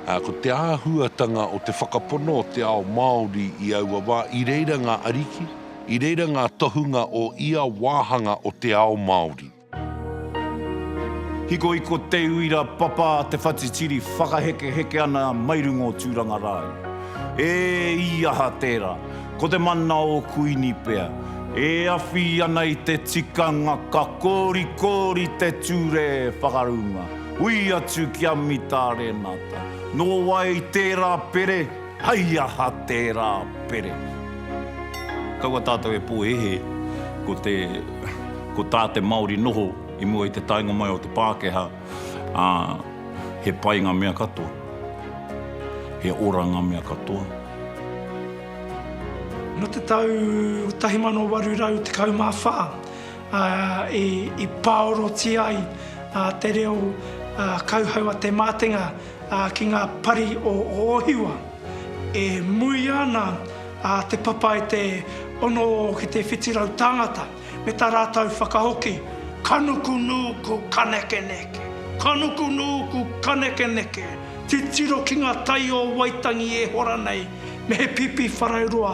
Ā, ko te āhuatanga o te whakapono o te ao Māori i aua wā, i reira ngā ariki, i reira ngā tohunga o ia wāhanga o te ao Māori. Hikohiko te uira papa a te whatitiri whakahekeheke ana mai runga o Tūrangarāu. E i aha tērā? Ko te mana o Kuini pea. E awhi ana i te tikanga ka kōrikōri te ture whakarunga. Hui atu ki a Mita Renata, Nō wai tērā pere, hei aha tērā pere? Kaua tātou e pōhēhē ko te, ko tā te Māori noho i mua i te taenga mai o te Pākehā, ā, he pai ngā mea katoa, he ora ngā mea katoa. Nō te tau 1814 i pāorotia ai te reo kauhau a Te Mātenga ki ngā pari o Ōhiwa. E muia ana te papa e te ono ki te whitu rau tāngata me tā rātou whakahoki. Ka nuku nūku, ka nekeneke, ka nuku nūku, ka nekeneke, titiro ki ngā tai o Waitangi e hora nei, me he pīpīwharauroa